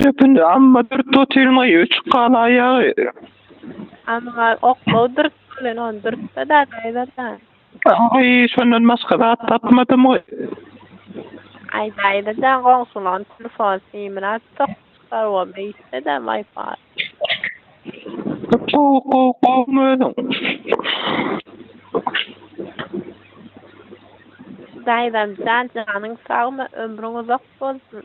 Dökündi amma dürt otyrmaý öçük gal aýagy. Amma oklaw dürt bilen on dürtde da gaýdada. Aý şondan başga zat tapmadym goý. Aý daýda da goňşulaň telefon simini açsak çykar o beýtse da mayfar. Gow gow gowmy özüň. Daýzam jan janyň sagmy ömrüň uzak bolsun.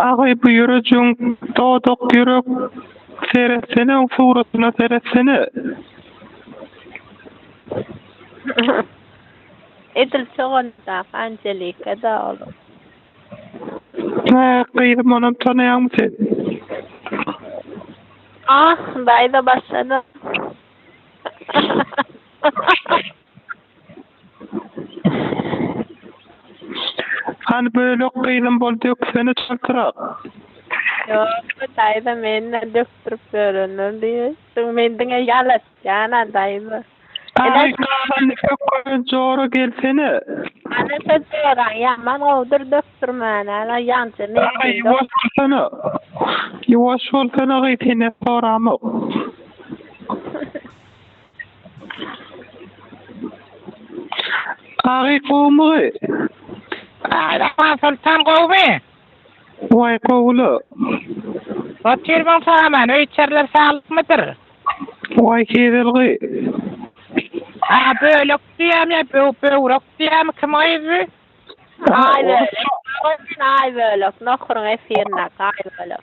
Agay bu ýürejiň dodak ýürek seretsene oň suratyna seretsene. Edil çogandaka Angelika da olam. Hä gyzym onam tanaýaňmy sen? Ah, daýza başlady. Hany bölek gyzym bol döksene çaltrak. Ýokmy daýza menden dökdürip ýörenler diýip men diňe ýalatýana daýza. Aý gahany pökgören jora gelsene. Ana şo joraň ýaman gowudyr dökdürmäne ala ýaňja men seni. Aý ýuwaş bolsana. Ýuwaş bolsana gyz senden soramok. Agy gowmy? Saýlaman soltan gowmy? Waý gowy-la. Otur bolsaňaman, öý-içerler saglykmydyr? Waý kezelgy. Agy bölek diýýämi ýa böwrek diýýämi, kim gyzdy? Aý bölek. Aý bölek, nohuryň efirinde, aý bölek.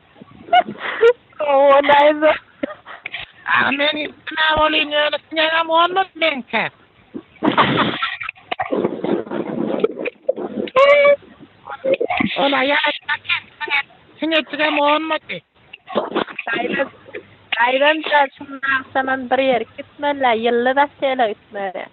Owa näze. Agy men üstüne bolin ýöne siňegem bolmaz meňke. Ol aýal aýtmak eken siňejigem onmady. Gaýran şundan agşamam bir ýere gitmeli-ä, ýylly basseýne gitmeli.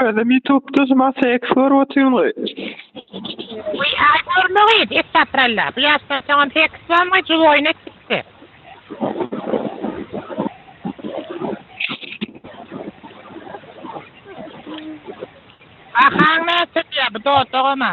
Özüm YouTube-da şu maşa eks görüp otyryn goý. Goý, a görmegeý, estapralla. Bu ýaşdan soňam seks bolmaý, juda oýun etdikdi. Bahaň näçe diýýär bu dodagama?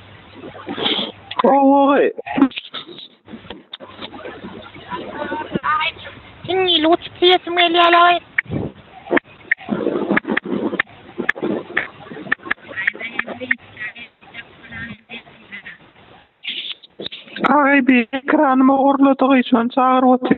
Oy. Inni lut tiyesim gelýär oy. Ay bir ekranymı ogurladygy üçin çagyryp otyr.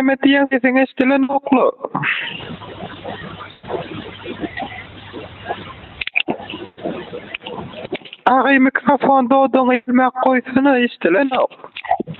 näme diýen sesiň eşdilen okla. Agy mikrofon dodaň ilmek goýsana eşdilen ok.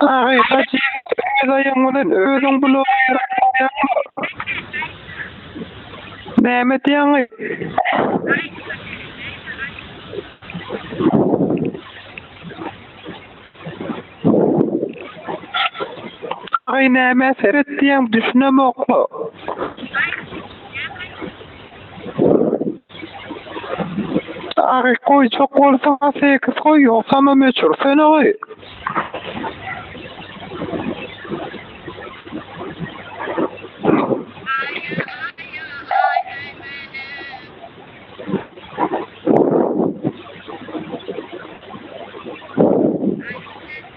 Aý, hajy ýigit, öz aýagyň bilen özüň bulaga ýerek bolýaňmy? Näme edýäňaý? Aý, nämä seretýäň, düşünemok-la. Agy goýjak bolsaň sekiz goý, ýogsam möçür söne goý.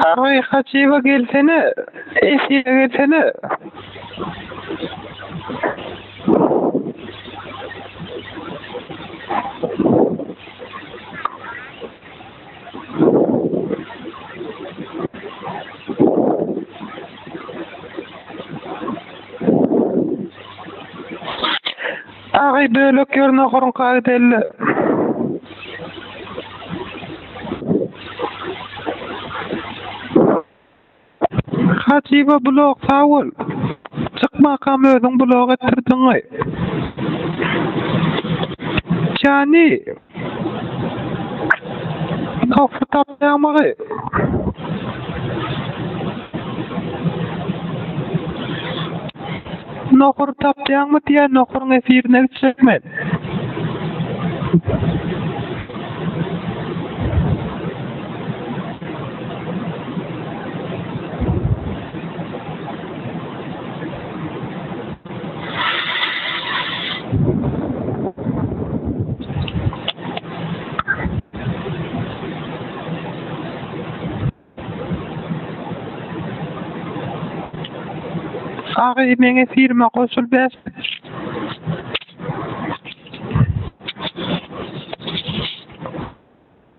Aý Hajyýewa gelsene, efire gelsene. Taýy bölek ýerine guruň kagydelli. Hajyba blog sag bol. Çykmakam özüň blog etdirdiňaý. Jany. Topy tapýarmygy? Nohur tapýarmy diýýä nohuryň efirine gitjek men. Agy meňe firma goşul ber.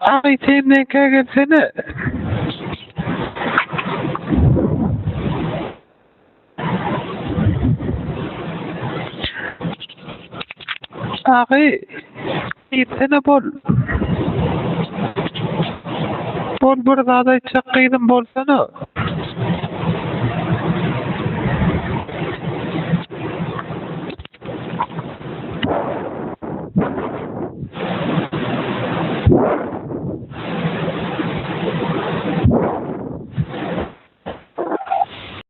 Abi sen ne kagelsene. Agy, diýsene, bol. Bol, bir zat aýtjak gyzym, bolsana.